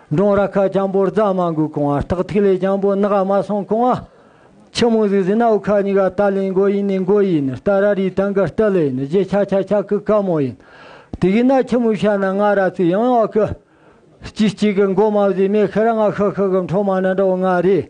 འབྲོང་ར་ཁ་རྐྱང་པོར་རྫ་མ་འགུགས་གོང་ཨ་སྟག་ཐིག་ལེ་རྐྱང་པོ་སྣ་ག་མ་སོང་གོང་ཨ། ཆུ་མོ་གཟིག་གཟིག་སྣའུ་ཁ་གཉིས་ཀ་རྟ་ལིང་མགོ་ཡིན་ནི་མགོ་ཡིན་ནི་རྟ་ར་རིའི་སྟེང་གི་རྟ་ལས་ནི་རྗེ་ཁྱ་ཁྱ་ཁྱ་ཀི་ཀ་མོ་ཡིན། དེ་གིས་ན་ཁྱི་མོ་ཤ་ན་ང་ར་ཚིག་ཡང་ཡང་ཨ་ཀི། སྐྱིད་སྐྱིད་ཀི་མགོ་མ་བཟོས་མེ་ཁི་ར་ང་ཧི་ཧི་ཀི་འཕྲོ་མ་ན་འདྲ་བོ་ང་རེད།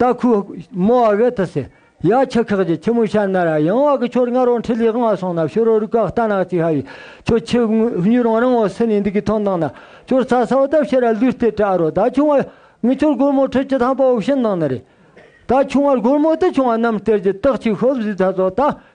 རྟ་ཁུག་རྨོ་བ་བྷེ་ཐི་སི་ཡ་ཁྱི་ཁག་གྱི་ཁྱི་མོ་ཤ་ན་ར་ཡང་བ་གི་ཁྱོར་ང་རང་ཁྲི་ལས་དབང་བ་སོང་ན་ཤོ་རོ་རུ་ཀ་རྟ་ནག་ཅིག་ཧ་ཡི་ཁྱོ་ཁྱི་སྨྱུ་རང་རང་བ་སི་ནས་འདི་གི་ཐང་ནང་ན་ཁྱོར་ཚ་ས་བ་ད་བཤད་ར་ལུས་ལྟེ་བྲག་རོ་ད་ཆུང་བ་ངི་ཁྱོར་སྒོར་མོ་ཁྲི་ཅི་ཐང་པ་བ་བཤད་ནང་ན་རེད་ད་ཆུང་བར་སྒོར་མོ་ད་ཆུང་བ་རྣམས་སྟེར་གྱི་རྟགས་ཅིག་ཤོ་བཟི་ཚ་ཚོ་ད་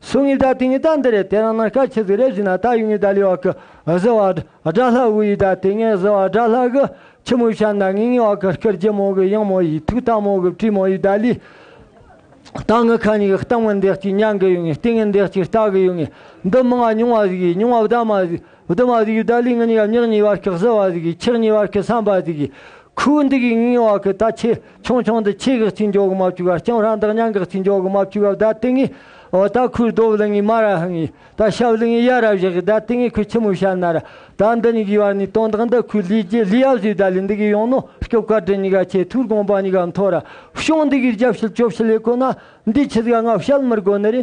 སུ་ངི་ད་ཏི་ངི་ད་འདི་རེད་དེ་རང་ན་ཤ་ཆི་ཟིག་རེད་བཞི་ན་ད་ཡུ་ངི་ད་ལི་བ་ཀི་ཟི་བ་དགྲ་ལྷ་དབུ་ཡི་ད་ཏི་ངེ་ཟི་བ་དགྲ་ལྷ་གི་ཁྱི་མོའི་ཤ་ན་ངི་ངི་བ་ཀི་ཤི་རྗེ་མོ་གི་གཡང་མོ་ཡི་ཐུག་ཐ་མོ་གི་བཀྲིས་མོ་ཡི་ད་ལི་ད་ངི་ཁ་ཉི་གི་རྟག་མི་འདེགས་ཅིག་མྱང་གི་ཡུ་ངི་སྟི་ངི་འདེགས་ཅིག་རྟག་གི་ཡུ་ངི་འདི་མི་ང་ཉུང་བ་ཟིག་ཡི་ཉུང་བ་བདག་མ་ཟིག་བདུད་མ་ཟིག་ཡི་ད་ལི་ངི་ཉི་ག་མྱག་ཉི་བ་ཀི་ཟི་བ་ཟིག་ཡི་ཁྱག་ཉི་བ་ཀི་སངས་པ་ཟིག་ཡི་ཁུ་བུ་འདི་གི་ངི་ངི་བ་ཀི་ད་ཁྱི། ཆུང་ཆུང་དུ་ཆེ་གེགས་ཆུ་མགྱོགས་མ་བཅུ་བ་སྐྱང་རང་དག་མྱང་གེགས་ཆུ་མགྱོགས་མ་བཅུ་བ་བརྡ་སྟེ་ངི། འོ་ད་ཁུར་རྡོ་བླི་ངི་མ་ར་ཧི་ངི། ད་ཤ་བླི་ངི་ཡ་ར་བཞི་ཧི་བརྡ་སྟེ་ངི་ཁུ་ཆི་མུ་ཤ་ན་ར། ད་འདི་ཉི་གི་བར་ནི་སྟོང་དག་འདི་ཁུ་ལི་རྗེ་ལི་ཡ་བཞི་བརྡ་ལི་འདི་གི་ཡོང་ནོ་སྐྱོབ་ཀ་དྲི་ཉི་ག་ཆེ་ཐུར་དགོངས་པ་ཉི་ག་མཐོ་ར། ཤོང་འདི་གིར་རྒྱབ་ཤལ་སྐྱོབ་ཤལ་ཡེ་ཀོ་ན། འདི་ཆི་ཟ་ང་བཤལ་མི་རྒོ་ནི་རི།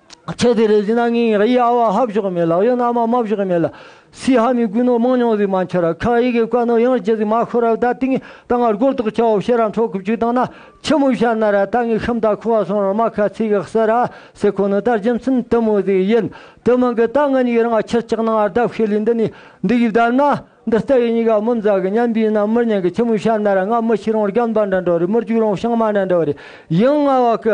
ཁྱེད་དེ་རེ་ཟིན་ན་ངིང་ར་ཡ་བ་ཧབ་ཞོག་མེད་ལག་ཡོད་ན་མ་མབ་ཞོག་མེད་ལ། སི་ཧ་མི་ཀུན་ནོ་མང་ཉོང་ཟིག་མ་འཁྱེར་ར་ཁ་ཡི་གེ་བཀའ་ནོ་ཡང་རྗེ་ཟིག་མ་ཁོ་ར་བདའ་ཏིང་ད་ང་རྒོལ་དོག་ཁྱ་བོ་ཤེ་ར་འཕྲོ་གུབ་ཅིག་དང་ན་ཁྱི་མོ་ཤ་ན་ར་ད་ངི་ཤམ་ད་ཁུ་བ་སོང་ར་མ་ཁ་ཚི་གི་སི་ར་སི་ཁོ་ནི་དར་འཇིམ་སིན་དི་མོ་ཟིག་ཡིན་དི་མི་གི་ད་ང་ཉིག་ར་ང་ཁྱེར་ཅག་ན་ང་རྡབ་ཤེ་ལི་འདི་ནི་འདི་གི་བདར་ན་འདི་རྟ་གི་ཉིག་ག་མི་མཛའ་གི་མཉམ་པི་ན་མི་ཉན་གི་ཁྱི་མོ་ཤ་ན་ར་ང་མི་ཤི་རང་རྒྱ་མདའ་འདྲ་འདྲ་བ་རི་མི་རྒྱུག་རང་ཤང་མ་འདྲ་འདྲ་བ་རི་ཡིང་ང་བ་གི་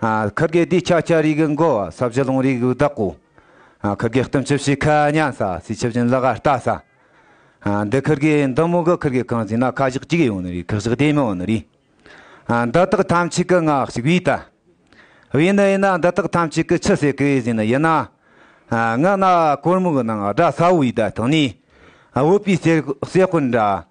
ཁ་བརྒྱད་སྡིག་ཆགས་ཆགས་རིག་མགོ་བ་ས་བྱི་ལོང་རིག་བདག་པོ། ཁ་བརྒྱད་གཏུམ་ཆུབ་ཤི་ཁ་གཉན་ས་སྲི་ཆུ་བྱིན་བླ་ག་རྟ་ས། འདི་ཁ་བརྒྱད་འདི་མོ་གི་ཁ་བརྒྱད་གང་ཟིན་ན་ཁ་བཞག་གཅིག་ཡོང་ནི་རིག་ཁག་བཞག་དེ་མི་འོང་ནི་རིག། འདི་དག་ཐམས་ཅད་ཀྱི་སྔགས་ཤིག་བས་ད། བས་ན་ཡིན་ན་འདི་དག་ཐམས་ཅད་ཀྱི་ཆུ་སེར་གྱིས་ཟིན་ནི་ཡིན། སྔགས་ནག་གོར་མོ་གི་ནང་དགྲ་ས་བོའི་བརྡ་ཐོས་ནས་བོད་པའི་སེར་སྤུན་འདྲ།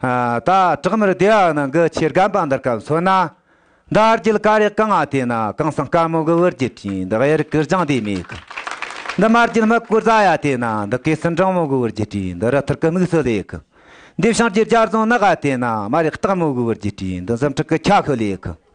ད་གྲགས་མེར་བདེ་བ་ནང་གི་ཆེ་རྒན་པ་འདིར་སྐབས་འཚོལ་ན། འདི་རྒྱུད་དཀའ་རེག་གི་སྔགས་དེ་ན་གང་སང་དཀར་མོ་གི་དབུར་གྱི་ཕྲིན་འདི་གཡེར་དཀར་ལྗང་དེ་མེད་གི། འདི་དམར་རྒྱུད་སྨུག་པོ་རྫ་ཡ་དེ་ན་འདི་གོས་སྲིན་སྦྲང་མོ་གི་དབུར་གྱི་ཕྲིན་འདི་རི་ཐུར་གི་དམིགས་སུ་ལེགས་གི། འདི་བྱང་རྒྱུད་རྒྱ་རྫོང་ནག་ཡ་དེ་ན་དམར་ཡག་སྟག་མོ་གི་དབུར་གྱི་ཕྲིན་འདི་འཛུམ་ཕྲུག་གི་ཁྱ་ཤོ་ལེགས་གི།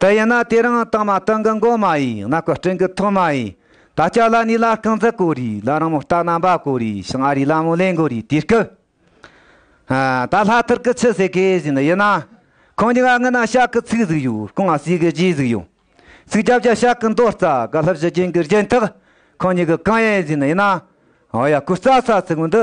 དེ་ཡིན་ན་དེ་རིང་རྟིང་མ་རྟིང་གི་མགོ་མ་ཡིན་ཡང་ན་གོ་སྤྲིན་གི་ཐོག་མ་ཡིན། ད་ལྕགས་ལ་ནི་ལ་རྐང་འཛེག་གོ་རེ་ལ་རིང་མོ་སྟག་རྣམ་པ་གོ་རེ་ཞིང་ཨ་རིའི་ལ་མོ་ལེན་གོ་རེ་དེ་སྐབས། ད་ལྷ་ཐུར་གི་ཆུ་ཟེགས་གས་བཞིན་ཡིན་ན། ཁོང་གཉིས་ཀ་ངུ་ན་ཤག་གི་ཚིག་ཟིག་ཡོད་རྐང་ཟིག་གི་རྗེས་ཟིག་ཡོད། ཚིག་རྒྱབ་རྒྱབ་ཤག་གི་མདོ་རྩ་ག་ལྷུ་བཞི་རྒྱན་གྱི་རྒྱན་ཐག་ཁོང་གཉིས་ཀི་གང་ཡལ་བཞིན་ཡིན་ན། ཨོ་ཡ་ཁོ་རྩ་ས་ཚིག་འདི།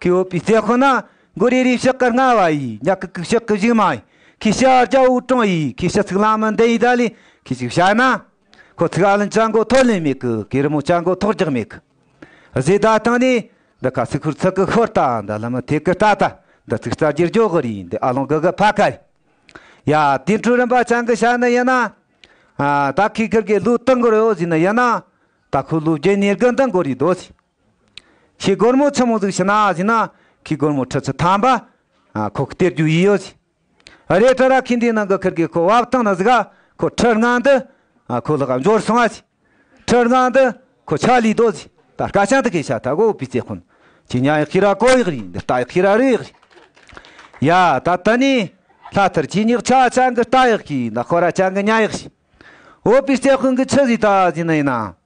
ཁོས་བོད་པའི་རྩེ་ཁོ་ན་མགོ་རེ་རེའི་ཕྱག་གིར་སྔ་བ་ཡི་ཉག་གི་གུག་ཕྱག་གི་བཞུགས་མ་ཡི་ཁོའི་ཕྱག་རྒྱ་འུག་སྤྲང་ཡི་ཁོའི་ཕྱག་ཚིག་གླང་མི་འདི་ཡི་ད་ལི་ཁོའི་ཕྱུགས་ཕྱག་ན་ཁོ་ཚིག་ཨ་ལན་ཅང་གོ་ཐོག་ལེན་མེད་གི་གོས་རི་མོ་ཅང་གོ་ཐོག་རྒྱག་མེད་གི་བཟོས་ད་ཐང་ནི་འདི་ཁ་ཚིག་ཧུར་ཚག་གི་ཤོར་ད་འདི་ལི་མི་ཐེ་གི་ཏ་ཏ་འདི་ཚིག་རྩ་རྒྱུར་འཇོག་གི་རེད་འདི་ཨ་ལོང་གི་གི་ཕ་ག་ཡི་ཡ་དེ་འཕྲུ་རིན་པ་ཅང་གི་ཞག་ནི་ཡི་ན་ད་ཁོས་ཁིར་གི་ལུག་ཏིང་གོར་ཡོ་ཟི་ནི་ཡི་ན་ད་ཁོས་ལུག་རྒྱུ་གཉེར་གི་འདི་མགོ་རི་རྡོ་ཟི། ཁྱི་སྒོར་མོ་ཆུ་མོ་ཟིག་ཤི་ན་ཟིག་ན་ཁྱི་སྒོར་མོ་ཁྲི་ཆུ་ཐམ་པ་ཁོ་གི་སྟེར་རྒྱུ་ཡི་ཡོད་ཟིག་རེད་ཁྲི་ར་ཁྱི་འདིའི་ནང་གི་ཁིར་གི་ཁོ་བབ་ཐང་ན་ཟིག་ཁོ་ཁྲི་རྔང་འདི་ཁོ་ལག་འབྱོར་སོང་ཟིག་ཁྲི་རྔང་འདི་ཁོ་ཆག་ལུས་འདོད་ཟིག་ད་སྐ་ཆང་དེ་གས་ཤ་ཐ་གོ་པི་ཙེ་ཁོ་ན་ཁྱི་ཉག་ཡི་ཁི་ར་ཀོ་ཡི་རི་འདི་རྟ་ཡི་ཁི་ར་རི་ཡི་རི་ཡ་ད་ལྟ་ནས་ལྷ་ཐར་ཁྱི་ཉག་ཆག་ཆང་གི་རྟ་ཡི་ཁི་ན་ཁོ་ར་ཆང་གི་ཉག་ཡི་ཁི་འོ་པི་ཙེ་ཁོ་གི་ཁྱི་ཟིག་ད་ཟིག་ན་ཡིན་ན་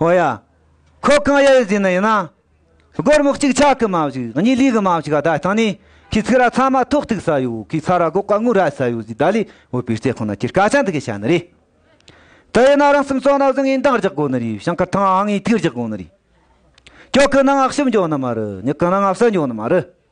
ཨོ་ཡ། ཁོ་གང་ཡག་ཡོད་ཟེར་ན་ཡིན་ན། སྒོར་སྨུག་གཅིག་ཆག་གི་མ་བཞུགས་གཉིས་ལུས་གི་མ་བཞུགས་བརྡ་བཏང་ནས་ཁོས་ཚིག་ར་ཚང་མ་ཐོག་ཐུག་ཟ་ཡོད་ཁོས་ཚ་ར་སྒོག་ཀ་ངུ་ར་ཟ་ཡོད་ཟེར་བརྡ་ལས་འོས་པའི་རྩེད་ཁང་ན་ཁྱེད་སྐད་ཆ་འདི་གས་བྱ་ནི་རེད། དེ་ཡིན་ན་རང་སེམས་གཙང་ན་བཟང་ངས་འདང་རྒྱག་དགོ་ནི་རེད་ཞིང་ཁར་ཐང་ཨང་ངས་ཐིག་རྒྱག་དགོ་ནི་རེད། ཁྱོད་གི་ནང་ཨག་ཞིབ་འཇོག་ནི་མ་རེད་ངས་གི་ནང་ཨབ་ས་འཇོག་ནི་མ་རེད།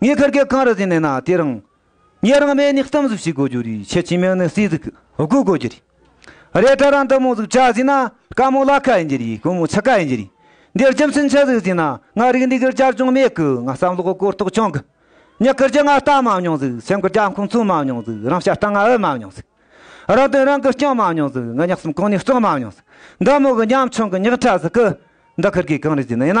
ངས་ཁར་སྐད་གང་རེ་བཟོས་ནས་ན་དེ་རང། ངས་རང་སྨད་ནས་གཏམ་གཟིགས་བྱེད་དགོས་རྒྱུ་རེད་ཁྱེད་ཀྱི་མིང་ནི་སྲིད་གཟིགས་དགོས་དགོས་རྒྱུ་རེད། རེད་དྲ་རང་འདི་མོ་གཟིགས་བྱ་ཟིན་ན་དཀའ་མོ་ལག་ཁ་ཡིན་རྒྱུ་རེད་དཀོན་མོ་ཆག་ཁ་ཡིན་རྒྱུ་རེད། འདིར་རྒྱུ་མཚན་ཆ་གཟིགས་ཟིན་ན་ང་རིག་འདི་གིར་བསྐྱར་སྦྱོང་མེད་གི་ང་བསམ་བློ་གོ་རྟོགས་ཅུང་གི། མྱི་གིར་རྒྱུ་ང་ལྟ་མ་མྱོང་གཟིགས་སེམས་གིར་རྒྱ་ཁུངས་མཚོན་མ་མྱོང་གཟིགས་རང་ཤ་སྟག་ང་ཨུ་མ་མྱོང་གཟིགས། རང་དོན་རང་གིར་སྐྱོང་མ་མྱོང་གཟིགས་ང་ཉག་གསུམ་གང་ནས་བཙོང་མ་མྱོང་གཟིགས། འདི་མོ་གི་ཉམ་ཆུང་གི་མྱིག་ཁྲ་ཟིག་གི། འདི་ཁར་སྐད་གང་རེ་བཟོས་ནས་ན།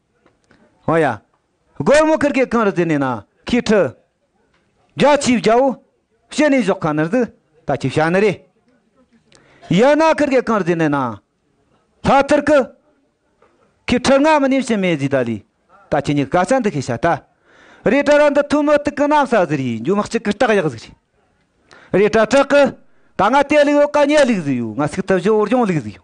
ཨོ་ཡ། སྒོར་མོ་ཁིར་ཁེ་གང་རུ་བཙིར་ནས་ན་ཁིའི་ཁྲི། རྒྱ་ཆེའི་རྒྱལ་བོ། བཤད་ནས་བཞོག་ག་ནི་རྫི། ད་ཁྱི་བྱ་ནི་རེ། ཡ་ན་ཁིར་ཁེ་གང་རུ་བཙིར་ནས་ན། ལྷ་ཐིར་ཀི། ཁིའི་ཁྲི་ང་མི་ནི་བྱིན་མེད་བཟི་ད་ལི། ད་ཁྱི་ཉི་ག་ཆ་འདི་ཁི་བྱ་ད། རེ་ཏྲ་ར་འདི་ཐུ་མི་ཏི་ཀི་ནམ་ས་བཟི་རི་འཇུ་མི་གཅིག་གི་སྟག་ཡག་ཟིག་རེ། རེ་ཏྲ་ཏྲག་ཀི། ད་ང་ཏེ་ལི་ཡོ་ཀ་ཉེ་ལིག་ཟི་ཡོ་ང་སིག་ཏི་བཞི་བོར་ཡོང་ལིག་ཟི་ཡོ།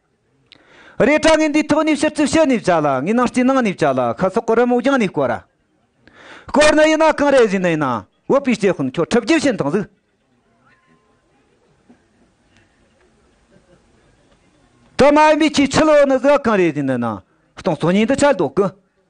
རས་བཀྲ་ངན་འདིའི་ཐོག་ནས་ཕྱིར་ཚུར་ཕྱི་ནས་བྱ་ལ་ངའི་ནང་སྐྱི་ནང་ནས་བྱ་ལ་ཁ་སོག་གི་རི་མོ་རྒྱང་ནས་བསྐོར། བསྐོར་ནི་ཡིན་ན་གང་རེད་བཞིན་ནི་ཡིན་ན་བོད་པའི་སྐྱེས་ཁུངས་ཁྱོད་ཁྲི་བརྒྱད་ཤིན་ཐང་ཟིག། དུ་མ་ཡིན་པའི་ཁྱོས་ཕྱི་ལོག་ནི་ཟིག་གང་རེད་བཞིན་ནི་ཡིན་ན་སྟོང་ཚོ་ཉིད་འདི་ཆ་ལྡོག་གི།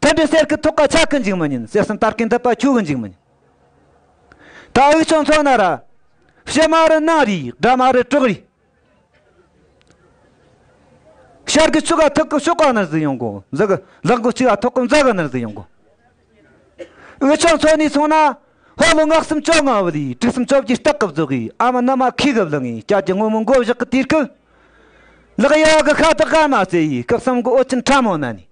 དེ་འདྲའི་གསེར་གྱི་ཐུགས་ཀ་ཆག་གི་འཇིག་མི་ཉན་གསེར་གསུམ་སྟར་གྱི་འདི་པ་འཁྱུག་གི་འཇིག་མི་ཉན། ད་དབུས་ཕྱོགས་མཚོ་ན་ར། ཕྱི་མ་རུ་སྣང་རིས་སྦྲ་མ་རུ་བྲག་རིས། ཤར་གྱི་ཆུ་ཀ་ཐུག་གི་ཤོག་ཀ་ནི་གཟི་ཡོང་གོ་འཛག་གི་ལག་གི་ཆུ་ཡ་ཐུག་གི་འཛག་གི་ནི་གཟི་ཡོང་གོ། དབུས་ཕྱོགས་མཚོ་ནས་སོང་ན། ཧོ་ལོ་སྔགས་སུམ་ཅོ་ལྔ་བུ་ལས་དྲུག་སུམ་ཅོ་བརྒྱའི་སྟག་གི་བཟོ་གིས་ཨ་མ་ནུ་མ་ཁའི་གི་བུ་ལི་ངའི་སྐྱབས་ཀྱི་སྔོན་མོ་མགོ་བཞག་གི་དུས་སྐབས། ལག་གཡས་གི་ཤ་དག་ཀ་མ་བསྲེ་ཡིས་སྐབས་གསུམ་གི་ཨོ་ཆེན་ཕྲ་མོ་ན་ནས།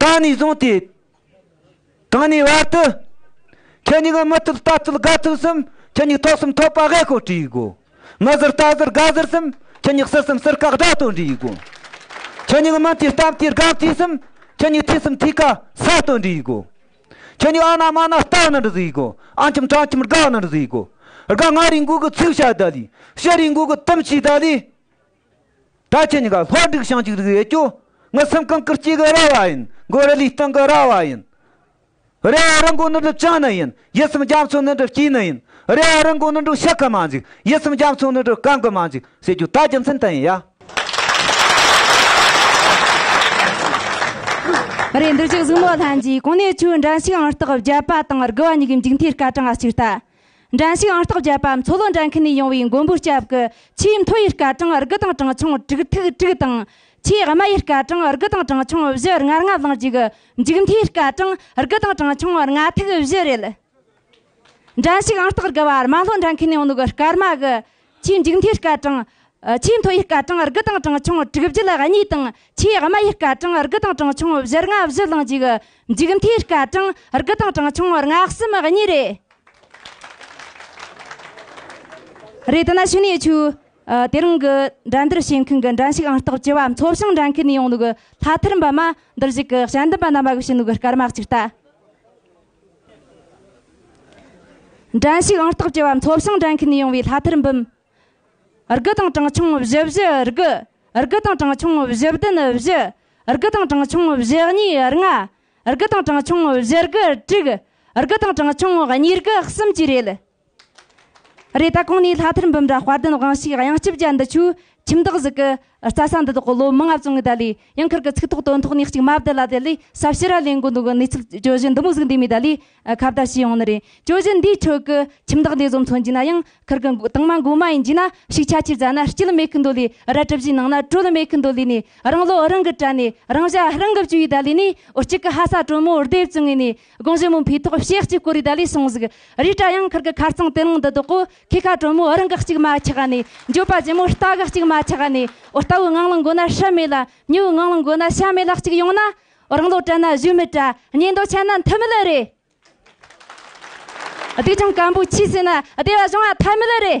ད་ནས་བཟུང་སྟེ། གང་ནས་བར་དུ། ཁྱེད་ཉིད་ངའི་མི་ཐུབ་རྟ་ཐུབ་སྒ་ཐུབ་གསུམ་ཁྱེད་ཉིད་ཐོག་གསུམ་ཐོག་པ་ཧེ་ཧོ་བྲིས་གོ། ང་ཟུར་རྟ་ཟུར་སྒ་ཟུར་གསུམ་ཁྱེད་ཉིད་སྲིད་གསུམ་སྲིར་བཀག་དགྲ་སྟོན་བྲིས་གོ། ཁྱེད་ཉིད་ངའི་མི་དེ་གཏམ་དེ་སྒམ་དེ་གསུམ་ཁྱེད་ཉིད་ཐིག་གསུམ་ཐིག་ཀ་ས་སྟོན་བྲིས་གོ། ཁྱེད་ཉིད་ཨ་ན་མ་ན་རྟ་ནི་བཟོས་གོ་ཨ་འཁྱམ་ཁྲ་འཁྱམ་སྒ་ནི་བཟོས་གོ། སྒ་ང་རིང་གུག་གི་ཚིག་བྱ་ད་ལི་ཤི་རིང་གུག་གི་གཏུམ་བྱས་ད་ལི། སྒྲ་ཆེ་ཉི་ག་ལྷོ་འབྲུག་བྱང་གཅིག་རིགས་ཡེ་ཀྱོ། ངའི་སེམས་ཁམས་ཀུར་སྐྱེས་ཀྱི་ར་བ་ཡིན། མགོ་རི་ལུས་སྟེང་གི་ར་བ་ཡིན། རེ་བ་རི་མགོ་ནི་སྒྲུབ་བྱང་ནི་ཡིན། ཡིད་སེམས་རྒྱ་མཚོ་ནི་སྒྲུབ་དཀྱིལ་ནི་ཡིན། རེ་བ་རི་མགོ་ནི་འབྲུག་ཤ་ཁ་མ་འཇིག། ཡིད་སེམས་རྒྱ་མཚོ་ནི་སྒྲུབ་གང་གི་མ་འཇིག། ཞེས་རྒྱུ་དག་རྒྱུ་མཚན་དང་ཡིན་ཡ། རེད་འདི་གཅིག་གཟུགས་མོ་ལྷན་གྱིས་གང་ནས་ཆུ་འདྲ་ཞིག་ཨང་རྟགས་བརྒྱབ་པ་དང་དགུ་བ་གཉིས་ཀའི་མཇུག་མཐའི་སྐར་གྲངས་ལ་གཅིག་ལྟ། འགྲན་ཞུགས་ཨང་རྟགས་བརྒྱད་པའམ་མཚོ་ལྷོ་འགྲན་ཁུལ་ནས་ཡོང་བའི་མགོན་པོའི་སྐྱབས་ཀྱི་ཆེས་མཐོ་ཡི་སྐར་གྲངས་རིགས་དང་གྲངས་ཆུང་དྲུག་ཐུག་དྲུག་དང། ཆེས་དམའ་ཡི་སྐར་གྲངས་རིགས་དང་གྲངས་ཆུང་བཞི་ལྔ་ལྔ་ལང་གཅིག་མཇུག་མཐའི་སྐར་གྲངས་རིགས་དང་གྲངས་ཆུང་ལྔ་ཐུག་བཞི་རེད། འགྲན་ཞུགས་ཨང་རྟགས་དགུ་པར་རྨ་ལྷོ་འགྲན་ཁུལ་ནས་ཡོང་ནུ་གི་སྐར་མ་གི་ཆེས་མཇུག་མཐའི་སྐར་གྲངས། ཆེས་མཐོ་བའི་སྐར་གྲངས་དགུ་དང་གྲངས་ཆུང་དྲུག་བརྒྱུད་ལ་གཉིས་དང། ཆེས་དམའ་བའི་སྐར་གྲངས་དགུ་དང་གྲངས་ཆུང་བཞི་ལྔ་བཞི་བླངས་འཇུག། མཇུག་མཐའི་སྐར་གྲངས་དགུ་དང་གྲངས་ཆུང་ལྔ་གསུམ་གཉིས་རེད། རེད་དེ་ན་ཕྱི་ནས་ཆུ། དེ་རིང་གི་འགྲན་བསྡུར་བྱེད་མཁན་གྱི་འགྲན་ཞུགས་ཨང་རྟགས་བཅུ་བ་མཚོ་ཞིང་འགྲན་ཁུལ་ནས་ཡོང་འདུག་ལྷ་ཐར་འབུམ་མ་འདིར་གཞུག་གི་ཞལ་འདེབས་པ་རྣམ་པ་གཞོན་ནུ་གི་སྐར་མ་གཅིག་ལྟ། འགྲན་ཞུགས་ཨང་རྟགས་བཅས་པ་མཚོ་བྱང་འགྲན་ཁུལ་ནས་ཡོང་བའི་ལྷ་ཐར་འབུམ། དགུ་དང་གྲངས་ཆུང་བཞི་བཞི་དགུ། དགུ་དང་གྲངས་ཆུང་བཞི་བདུན་བཞི། དགུ་དང་གྲངས་ཆུང་བཞི་གཉིས་ལྔ། དགུ་དང་གྲངས་ཆུང་བཞི་དགུ་དྲུག། དགུ་དང་གྲངས་ཆུང་ཉིས་དགུ་གསུམ་བཅས་རེད། རེ་ད་གང་ནས་ལྷ་ཐར་འབུམ་ར་དཔའ་བརྟན་དབང་བྱེད་དབྱངས་སྐྱིད་བརྒྱ་འདི་ཆུ་ཁྱིམ་བདག་གཟིགས་ཀྱི་རྩྭ་ས་འདི་དག་གི་ལོ་མང་ཨབ་བཙུན་གྱི་དད་ལས་ཡང་འཁུར་གྱི་ཚིག་ཐོག་དོན་ཐོག་གནས་གཅིག་མ་བདེ་ལ་དད་ལས་ཟབ་ཞི་ར་ལས་འགོ་འདུག་གནས་ཚུལ་གྱོད་གཞི་འདི་མོ་གཟིགས་འདས་མའི་དད་ལས་ཁ་བརྡ་བྱས་ཡོང་ནི་རེད་གྱོད་གཞི་འདིའི་ཁྲོད་ཀྱི་ཁྱིམ་བདག་འདི་ཟོམ་ཚོ་འཇིག་ན་ཡང་འཁུར་གྱི་དྭངས་མ་མགོ་མ་ཡིན་འཇིག་ན་ཤུགས་ཆ་ཆེར་བཟའ་ན་སྐྱིད་མེད་གྱི་འདོད་ལས་རལ་གྲི་བཞིན་ནང་ན་དྲོད་མེད་གྱི་འདོད་ལས་ནས་རང་བློ་རང་གིས་དྲན་ནས་རང་བྱ་རང་གིས་བཅོས་ཡི་དད་ལས་ནི་འུ་གཅིག་གི་ཧ་ས་དྲོན་མོ་འུར་སྡེ་བཙུན་ངོས་ནས་དགོངས་བཞེད་མུ་འཕེའི་ཐོག་ཞེ་གཅིག་བསྐོར་བའི་བརྡ་ལས་གསུངས་གཟིགས། རི་བཀྲ་གཡང་འཁོར་གྱི་ཁར་ཚང་དེ་ལང་འདི་བདོག་གོ། ཁེ་ཁ་དྲོན་མོ་རི་འགག་གཅིག་མ་ཆགས་ནས། འགྱོད་པ་རྗེ་མོ་རྟ་འགག་གཅིག་མ་ཆགས་ནས། ཨོ་རྟ་བོའི་ངང་ལ་འགོ་ན་ཧྲི་མེད་ལ། མྱུ་བོའི་ངང་ལ་འགོ་ན་ཤ་མེད་ལ་གཅིག་ཡོང་ན། རང་ལོ་བཀྲ་ན་གཞོན་མི་བཀྲ། ཉེས་འདོགས་ཆད་ན་མཐུ་མི་ལུས་རེད། བདེ་ཆུང་སྐམ་པོའི་ཆུས་བསྲེས་ན་བདེ་བ་བྱུང་བ་ཐལ་མི་ལུས་རེད།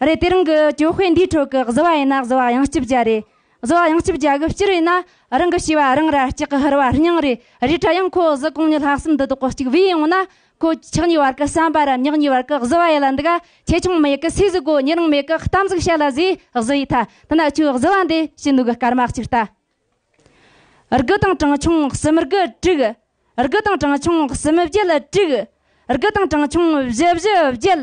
རེད་དེ་རང་གི་གྱོད་དཔེ་འདིའི་ཁྲོད་ཀྱི་བཟི་བ་ཡིན་ན་བཟི་བ་ཡང་སྐྱིབས་རྒྱ་རེད། བཟི་བ་ཡང་སྐྱིབས་རྒྱ་གི་སྤྱིར་ཡིན་ན་རང་གི་ཤེས་བ་རང་ར་སྐྱག་གི་ཧུར་བ་སྙིང་རེད་རེད་ད་ཡང་ཁོ་བཟི་གོང་ནས་ལྷག་བསམ་འདི་དོག་གི་སྐྱིག་བུས་ཡོང་ན་ཁོ་ཆག་གཉིས་བར་གྱི་བསམ་པ་རམ་ཉག་གཉིས་བར་གྱི་བཟི་བ་ཡིད་ལ་འདུག་ག་ཆེ་ཆུང་མེད་གི་སུས་བཟི་གོ་ཉེ་རིང་མེད་གི་གཏམ་ཟིག་བཤད་ལ་བཟི་བཟི་ཡིས་ད་ད་ན་ཁྱོའི་བཟི་བ་འདི་ཕྱི་ནུག་གི་སྐར་མ་གཅིག་ལྟ་རྒུ་དང་གྲངས་ཆུང་གསུམ་རྒུ་དྲུག། རྒུ་དང་གྲངས་ཆུང་གསུམ་བརྒྱད་དྲུག། རྒུ་དང་གྲངས་ཆུང་བཞི་བཞི་བརྒྱད།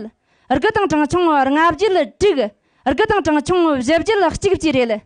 རྒུ་དང་གྲངས་ཆུང་ལྔ་བརྒྱད་དྲུག། རྒུ་དང་གྲངས་ཆུང་བཞི་བརྒྱད་གཅིག་བཅས་རེད།